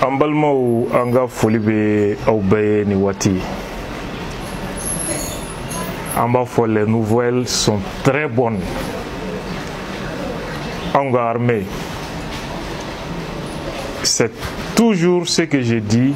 an balimaw an ka foli bɛ aw bɛɛ ye nin waati an b'a fɔ les nouvelles sont très bonnes an ka armée c'est toujours ce que je dis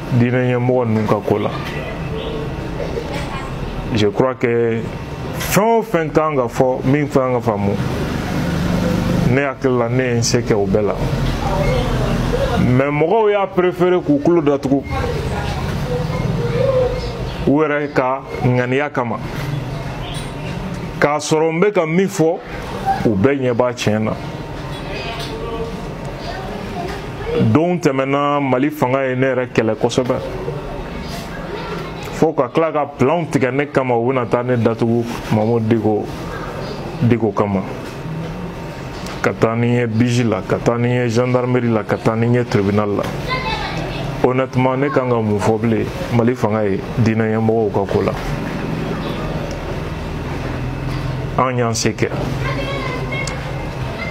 diinɛɲɛmɔgɔ ninnu ka ko la je crois que fɛn o fɛn kan ka fɔ min kan ka faamu ne hakili la ne ye n se kɛ o bɛɛ la mais mɔgɔw y'a préféré k'u tulo datugu u yɛrɛ ka ŋaniya kama k'a sɔrɔ n bɛ ka min fɔ u bɛɛ ɲɛ b'a tiɲɛ na donw tɛmɛna mali fanga ye ne yɛrɛ kɛlɛ kosɛbɛ fo ka tila ka planw tigɛ ne kama u bɛna taa ne datugu mahmoud dicko kama ka taa ni n ye biji la ka taa ni n ye gendarmerie la ka taa ni n ye tribunal la honnêtement ne kan ka mun fɔ bilen mali fanga ye diinɛɲɛmɔgɔw ka ko la an y'an se kɛ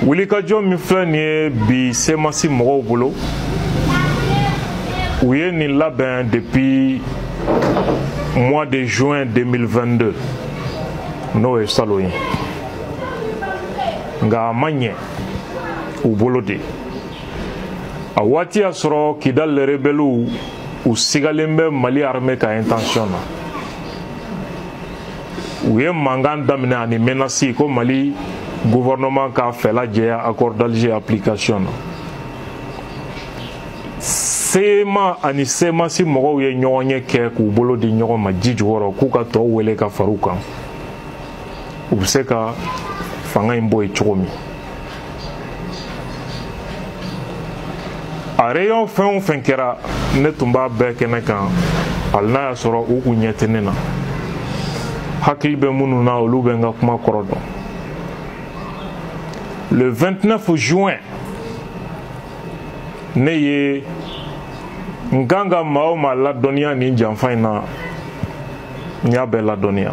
wulikajɔ min filɛ nin ye bi semasi mɔgɔw bolo u ye nin labɛn depuis mois de juin 2022 n'o ye salon ye nka a ma ɲɛ u bolo de a waati y'a sɔrɔ kidal rebɛliw u sigalen bɛ mali armée ka intention na u ye mankan daminɛ ani menasi ko mali gouvernement k'a fɛla jɛya accord d'alger application na sema ani semasi mɔgɔw ye ɲɔgɔnye kɛ k'u bolo di ɲɔgɔn ma ji jukɔrɔ k'u ka tɔw wele ka fara u kan u bɛ se ka fanga in bɔ yen cogo min a réunion fɛn o fɛn kɛra ne tun b'a bɛɛ kɛnɛ kan hali n'a y'a sɔrɔ u kun ɲɛ tɛ ne na hakili bɛ minnu na olu bɛ n ka kuma kɔrɔ dɔn le 29 juin ne ye n kan ka maa o maa ladɔnniya nin janfa in na n y'a bɛɛ ladɔnniya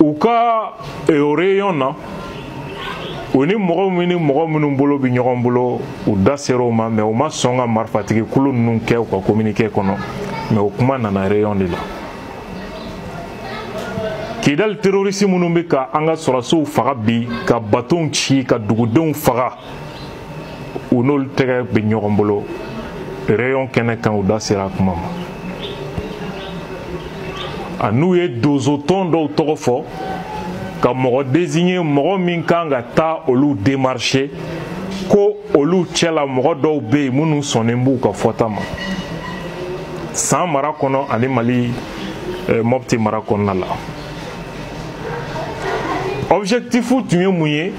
u ka o réunion na u ni mɔgɔ min ni mɔgɔ minnu bolo bɛ ɲɔgɔn bolo u da sera o ma mais u ma sɔn ka marifatigi kulu ninnu kɛ u ka communiqué kɔnɔ mais o kuma nana réunion de la kidali terorisi minnu bɛ ka an ka sɔrɔdasiw faga bi ka batonw ci ka dugudenw faga u n'olu tɛgɛ bɛ ɲɔgɔn bolo réunion kɛnɛ kan u da sera a kuma ma an'u ye dozotɔn dɔw tɔgɔ fɔ ka mɔgɔ désigner mɔgɔ min kan ka taa olu démarcher ko olu cɛla mɔgɔ dɔw bɛ yen minnu sɔnnen b'u ka fɔta ma san mara kɔnɔ ani mali eh, mɔpti mara kɔnɔna la objectif tun ye mun ye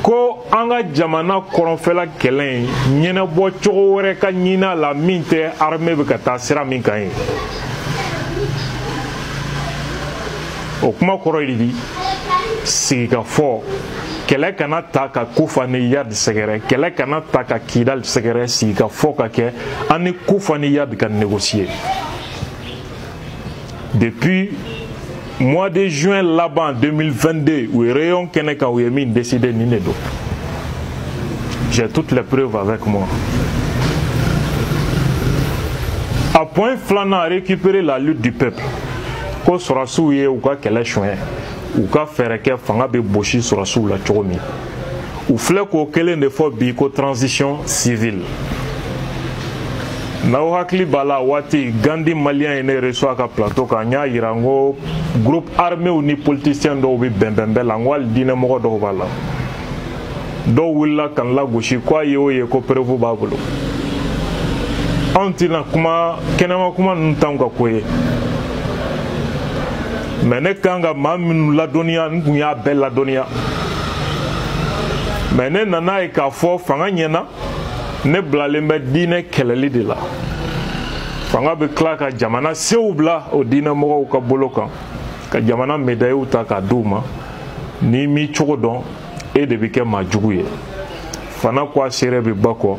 ko an ka jamana kɔrɔnfɛla kɛlɛ in ɲɛnabɔ cogo wɛrɛ ka ɲini a la min tɛ armée bɛ ka taa sira min kan ye o kuma kɔrɔ ye di sigikafɔ kɛlɛ kana taa ka kufa ni iyadi sɛgɛrɛ kɛlɛ kana taa ka kidali sɛgɛrɛ sigikafɔ ka kɛ an ni kufa ni iyad ka négocier depuis mois de juin laban 2022 u ye réunion kɛnɛ kan u ye min décidé nin de don j'ai toutes les preuves avec moi a point filanan récupérer la lutte du peuple ko sɔrɔsiw ye u ka kɛlɛ suɲɛ u ka fɛɛrɛ kɛ fanga bɛ bosi sɔrɔsiw la cogo min u filɛ k'o kelen de fɔ bi ko transition civile n'aw hakili b'a la waati gandi maliyɛn ye ne recevoir a ka plateau kan n y'a yira n ko groupe arméw ni politisiyɛn dɔw bɛ bɛnbɛn bɛɛ la n ko hali diinɛmɔgɔ dɔw b'a la dɔw wulila ka n lagosi ko a ye o ye ko preuve b'a bolo anw tɛna kuma kɛnɛma kuma ninnu t'anw ka ko ye mɛ ne kan ka maa minnu ladɔnniya n kun y'a bɛɛ ladɔnniya mɛ ne nan'a ye k'a fɔ fanga ɲɛna ne bilalen bɛ diinɛ kɛlɛli de la fanga bɛ tila ka jamana sew bila o diinɛ mɔgɔw ka bolo kan ka jamana medayiw ta k'a di u ma n'i m'i cogo dɔn e de bɛ kɛ maa jugu ye fana ko a seere bɛ ba kɔ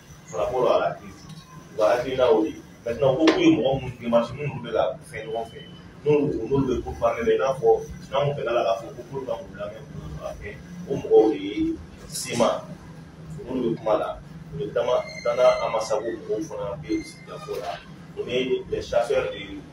par rapport à la u ka hakilina o de ye maintenant ko k'u ye mɔgɔ minnu démarché minnu bɛ ka fɛn ɲɔgɔn fɛ n'olu n'olu bɛ pourparlers la i n'a fɔ n'an kun fɛla la k'a fɔ ko k'olu ka k'u lamɛn k'u ka kɛ o mɔgɔw de ye sima minnu bɛ kuma la notamment dana amasagu mɔgɔw fana bɛ sigikafɔ la o ni les chasseurs de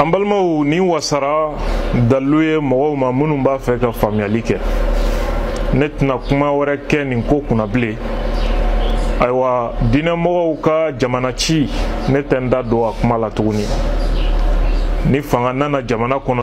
an balimaw nin wasara dalilu ye mɔgɔw ma minnu b'a fɛ ka faamuyali kɛ ne tɛna kuma wɛrɛ kɛ nin ko kunna bilen ayiwa diinɛmɔgɔw ka jamana ci ne tɛ n da don a kuma la tuguni ni fanga nana jamana kɔnɔ